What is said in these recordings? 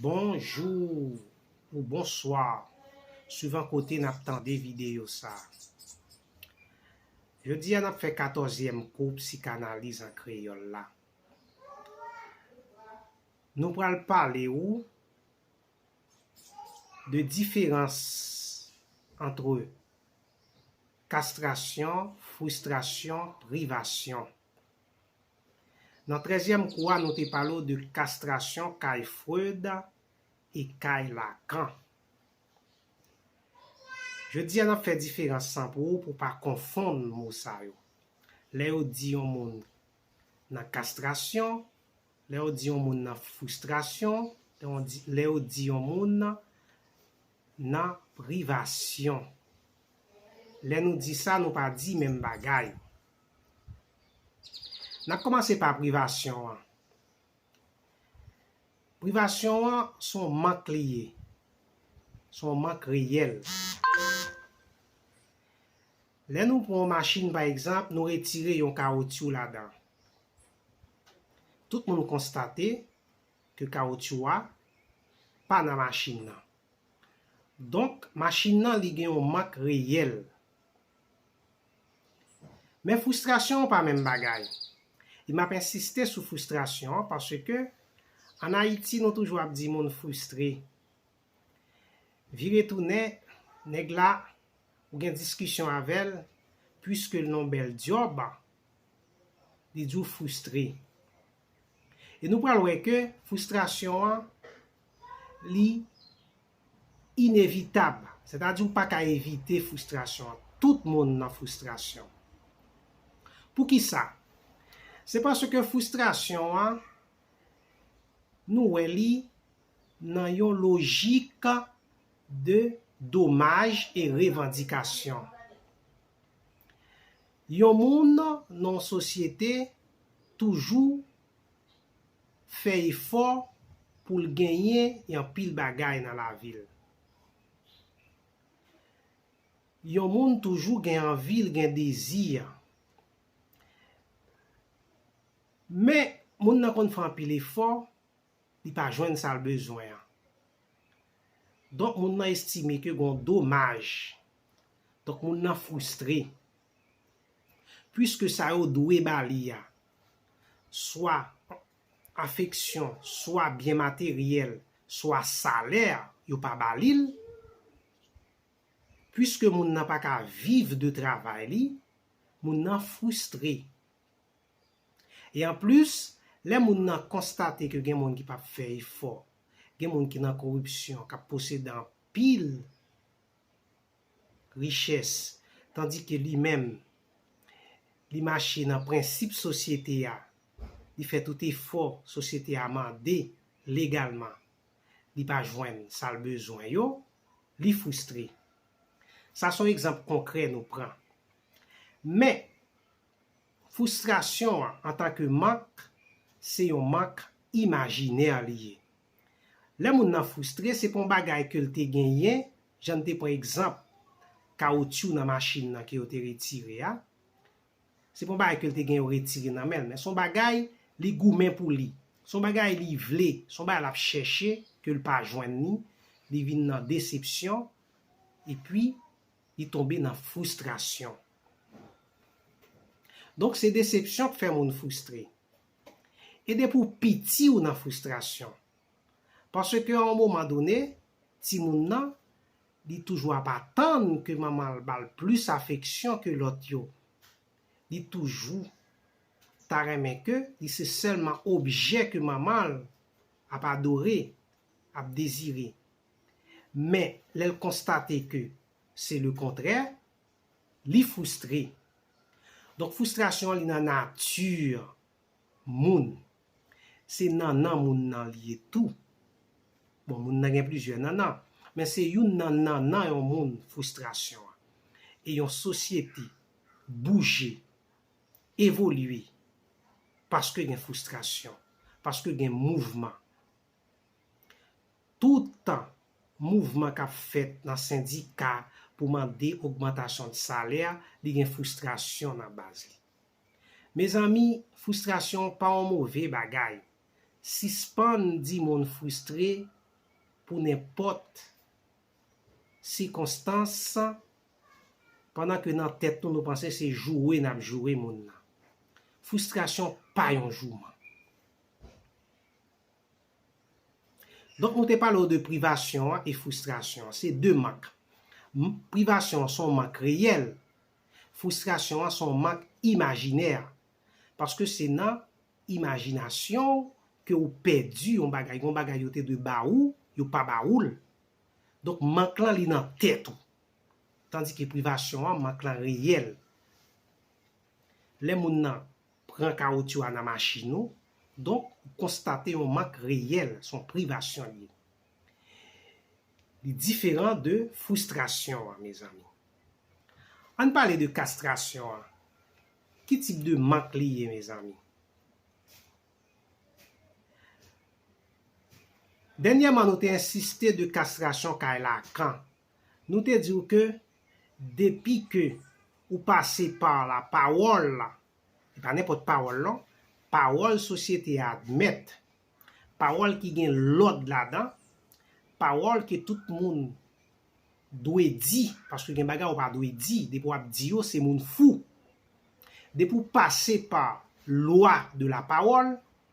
Bonjour ou bonsoir suivant kote nap tande video sa. Jodi a nap fè 14 èm kou psikanaliz an kreyòl la. Nou pral pale ou de diferans antre kastrasyon, fristrasyon, privasyon. Nan trèzyèm kou a nou te pale w de kastrasyon kay Freud e kay Lacan. Jodi a n ap fè diferans lan pou ou pou w pa konfonn mo sa yo. Lè yo di yon moun nan kastrasyon, lè yo di yon moun nan fristrasyon, lè yo di yon moun nan privasyon. Lè nou di sa nou pa di menm bagay. N ap kòmanse pa privasyon an. Privasyon an se yon mank li ye. Se yon mank reyèl. Lè nou pran yon machin pa egzanp, nou retire yon kawotyou ladan. Tout moun konstate ke kawotyou a pa nan machin nan. Donk, machin nan li gen yon mank reyèl. Men frustrasyon an pa menm bagay. E m ap ensiste sou frustrasyon an paske an Ayiti nou toujou ap di moun frustre. Vire tounen, nèg la, ou gen diskisyon avè l, puiske l nan w bèl dyòb, li di w frustre. E nou pral wè ke fristrasyon an li inevitab. Sètadi ou pa ka evite fristrasyon an. Tout moun nan fristrasyon. Poukisa? Se paske fristrasyon an nou wè li nan yon lojik de domaj e revandikasyon. Yon moun nan yon sosyete toujou fè efò pou l genyen yon pil bagay nan lavi l. Yon moun toujou gen anvi, l gen dezi. Men, moun nan konn fè anpil efò. li pa jwenn sa l bezwen an. Donk moun nan estime ke gen yon domaj. Donk moun nan fristre. Puiske sa yo dwe ba li a, swa afeksyon, swa byen materyèl, swa salè, yo pa ba li l, puiske moun nan pa ka viv de travay li, moun nan fristre. E anplis, lè moun nan konstate ke gen moun ki pa p fè efò, gen moun ki nan koripsyon, k ap posede anpil richès, tandi ke li menm, li mache nan prensip sosyete a, li fè tout efò sosyete a mande legalman, li pa jwenn sa l bezwen yo, li fristre. Sa s on egzanp konkrè nou pran. Men! Foustrasyon an antan ke mank, se yon mank imajinè li ye. Lè moun nan foustre, se pa yon bagay ke l te genyen, jan n te pran egzanp kawotyou nan machin nan ke yo te retire a, se pa yon bagay ke l te gen yo retire nan men l, men se yon bagay li goumen pou li, se yon bagay li vle, se yon bagay l ap chèche ke l pa jwenn li, li vin nan desepsyon, epi li tonbe nan foustrasyon. Donk se desepsyon k fè moun fristre. E depi w piti w nan fristrasyon. Paske a on moman done, timoun nan, li toujou ap atann ke manman l ba l plis afeksyon ke lòt yo. Li toujou ta renmen ke li se sèlman objè ke manman l ap adore, ap dezire. Men, lè l konstate ke se lekontrè, Li frustre. Donk frustration an li nan nature moun. Se nannan moun nan li ye tou. Bon moun nan gen plizyè nannan. Men se youn nan nannan yon moun frustration an. E yon sosyete bouje, evolye paske gen frustration, paske gen mouvman. Toutan mouvman k ap fèt nan sendika pou mande ogmantasyon salè, li gen fristrasyon nan baz li. Mezanmi, fristrasyon pa yon move bagay. Sispann di moun fristre pou nenpòt sikonstans pandan ke nan tèt nou nou panse se joure n ap joure moun nan. Fristrasyon pa yon jouman. Donk nou te pale w de privasyon an e fristrasyon an. Se 2 mank. Privasyon an se yon mank reyèl. Fristrasyon an se yon mank imajinè. Paske se nan imajinasyon w ke ou pèdi yon bagay. Gon bagay yo te dwe ba ou, yo pa ba ou l. Donk mank lan li nan tèt ou. Tandike privasyon an, mank lan reyèl. Lè moun nan pran kawotyou a nan machin ou, donk ou konstate yon mank reyèl, se yon privasyon li ye. Li diferan de fristrasyon an mezanmi. An n pale de kastrasyon an, ki tip de mank li ye mezanmi? Dènyèman nou te ensiste de kastrasyon kay Lakan Nou te di w ke depi ke ou pase pa la pawòl la, e pa nenpòt pawòl non, pawòl sosyete a admèt, pawòl ki gen lòd ladan, pawòl ke tout moun dwe di, paske gen bagay ou pa dwe di, depi w ap di yo se moun fou. Depi w pase pa lwa de la pawòl,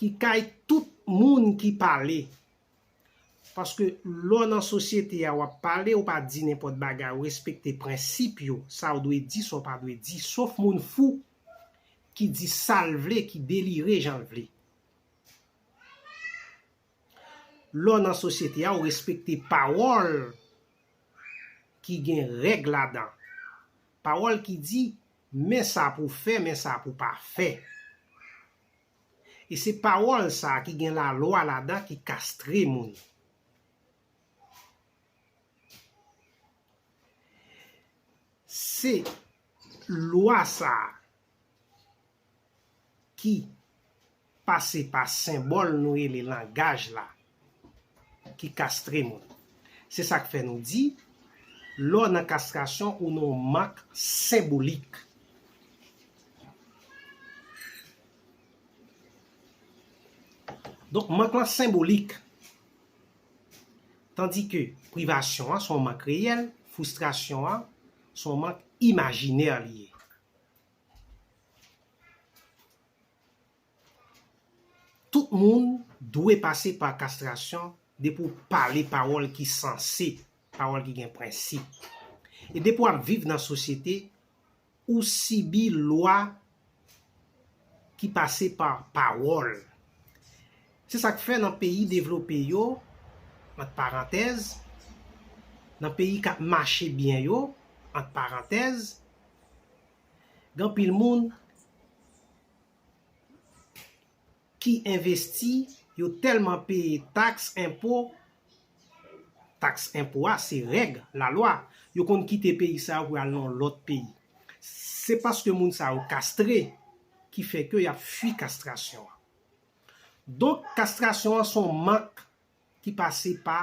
ki kay tout moun ki pale. Paske lè w nan sosyete a w ap pale, ou pa di nenpòt bagay, ou respekte prensip yo, sa w dwe di, sa w pa dwe di, sof moun fou ki di sa l vle, ki delire jan l vle. Lè w nan sosyete a, ou respekte pawòl ki gen règ ladan. Pawòl ki di, Men sa pou fè, men sa pou pa fè. E se pawòl sa ki gen lalwa ladan ki kastre moun. Se lwa sa ki. pase pa senbòl nou rele langaj la ki kastre moun. Se sa k fè nou di, lè w nan kastrasyon ou nan yon mak senbolik. Donk mank lan senbolik. Tandi ke privasyon an se yon mank reyèl, fwistrasyon an se yon mank imajinè li ye. Tout moun dwe pase pa kastrasyon depi w pale pawòl ki sanse, pawòl ki gen prensip. E depi w ap viv nan sosyete, ou sibi lwa ki pase pa pawòl. Se sa k fè nan peyi devlope yo, ant parantèz, nan peyi k ap mache byen yo, ant parantèz, Gen pil moun ki envesti, yo tèlman peye taks, enpo, taks enpo a se règ, lalwa, yo konn kite peyi sa yo pou yo al nan yon lòt peyi. Se paske moun sa yo kastre ki fè ke y ap fui kastrasyon an. Donk kastrasyon an se yon mak ki pase pa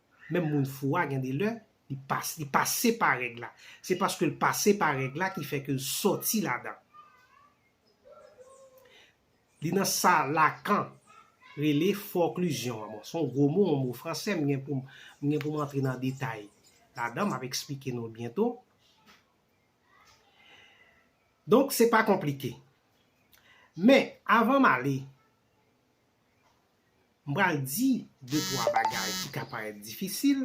Menm moun fou a gen de lè, li pa, li pase pa règ la. Se paske l pase pa règ la ki fè ke l sòti ladan. Li nan sa Lacan rele forclusion an. Bon, s on gwo mo, on mo franse, m gen pou m, m gen pou m antre nan detay ladan, m ap esplike nou l byento. Donk, se pa konplike. Men, avan m ale. M pral di de twa bagay ki ka parèt difisil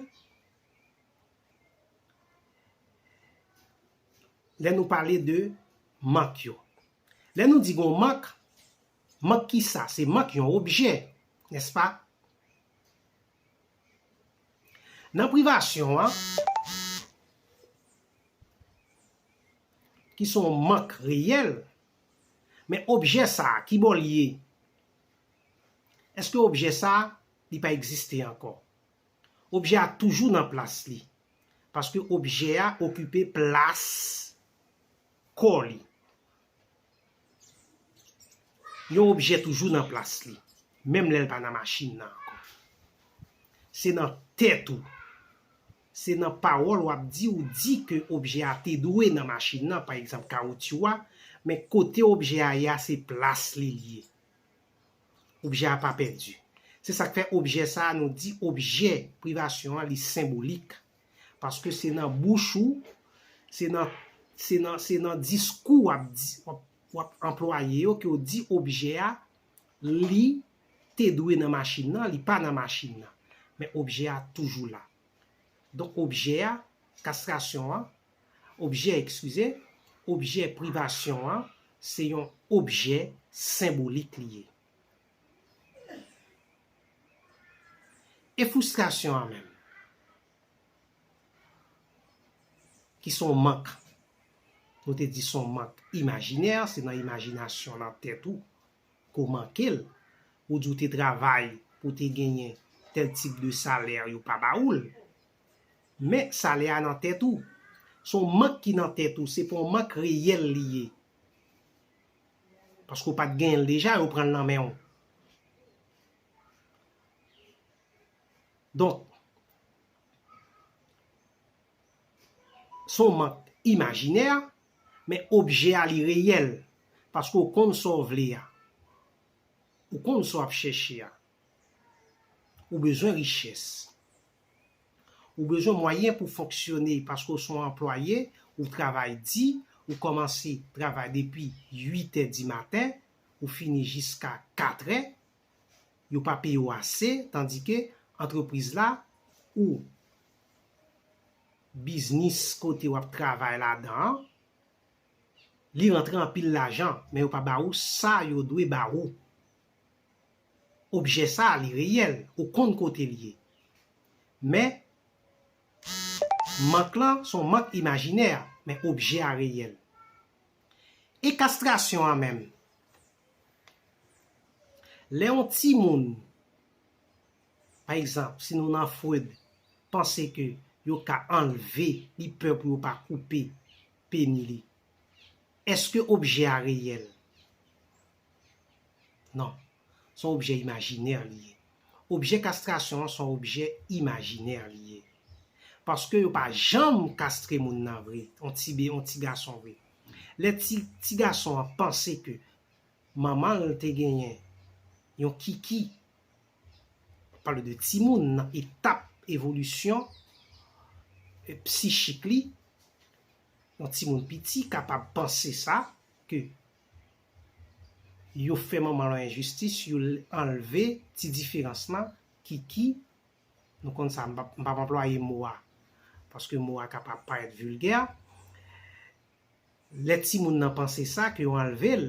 lè nou pale de mank yo. Lè nou di gon mank, mank kisa? Se mank yon objè, nèspa? Nan privasyon an, ki son mank reyèl, men objè sa, kibò l ye? Eske objè sa a, li pa egziste ankò? Objè a toujou nan plas li, paske objè a okipe plas kò li. Yon objè toujou nan plas li, menm lè l pa nan machin nan ankò. Se nan tèt ou Se nan pawòl wap di ou di ke objè a te dwe nan machin nan pa egzanp kawotyou a men kote objè a ye a se plas li li ye objè a pa pèdi se sak fè objè sa a nou di objè privasyon an li senbolik paske se nan bouch ou se nan se nan se nan diskou wap di wap anplwaye yo ke ou di objè a Li te dwe nan machin nan, li pa nan machin nan. Men objè a toujou la. Donk objè a, kastrasyon an, objè, ekskize, objè privasyon an, se yon objè senbolik li ye. E foustrasyon an menm? ki son mank, nou te di son mank imajinè, se nan imajinasyon nan tèt ou ke w manke l, ou di w te travay pou w te genyen tèl tip de salè yo pa ba ou l, men salè a nan tèt ou, son mank ki nan tèt ou, se pa yon mank reyèl li ye, paske w pa t genyen l deja, yo pran l nan men w. Donk, son mank imajinè, men objè a li reyèl, paske w konn sa w vle a, ou konn sa w ap chèche a. Ou bezwen richès. Ou bezwen mwayen pou fonksyone paske w son anplwaye, ou travay di, ou kòmanse travay depi 8 è di maten, ou fini jiska 4 è, yo pa peye w ase tandi ke antrepriz la ou biznis kote w ap travay ladan an li rantre anpil lajan men yo pa ba ou sa yo dwe ba ou. Objè sa li reyèl, ou konn kote l ye. Men mank lan son mank imajinè men objè a reyèl. E kastrasyon an menm? Lè yon timoun, pa egzanp, si nou nan Freud, panse ke yo ka anlve, li pè pou yo pa koupe peni li, èske objè a reyèl? Non. Se yon objè imajinè li ye. Objè kastrasyon an se yon objè imajinè li ye. Paske yo pa janm kastre moun nan vre, yon ti be, yon ti gason vre. Lè ti, ti gason an panse ke manman l te genyen yon kiki, map pale de timoun nan etap evolisyon psichik li, yon timoun piti kapab panse sa, ke yo fè manman yon enjistis yo anlve ti diferans lan kiki nou konn sa m pap anplwaye mo a paske mo a ka parèt vilgè lè timoun nan panse sa ke yo anlve l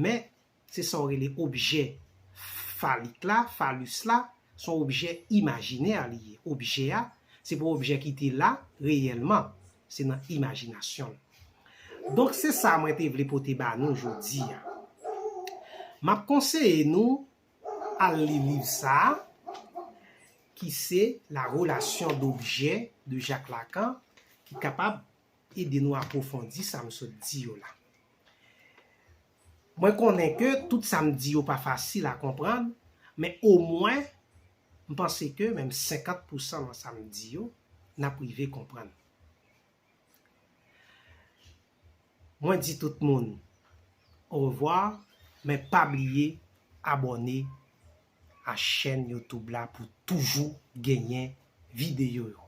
men se sa yo rele objè falik la, falus la se yon objè imajinè li ye objè a se pa yon objè ki te la reyèlman Se nan imajinasyon l. Donk se sa mwen te vle pote ba nou jodi a. M ap konseye nou al li liv sa a ki se La relation d'objet de Jacques Lacan ki kapab ede nou apwofondi sa m sot di yo la. Mwen konnen ke tout sa m di yo pa fasil a konprann, men omwen m panse ke menm 50 pou san nan sa m di yo, n ap rive konprann. Mwen di tout moun orevwa, men pa bliye abòne a chèn YouTube la pou toujou genyen videyo yo.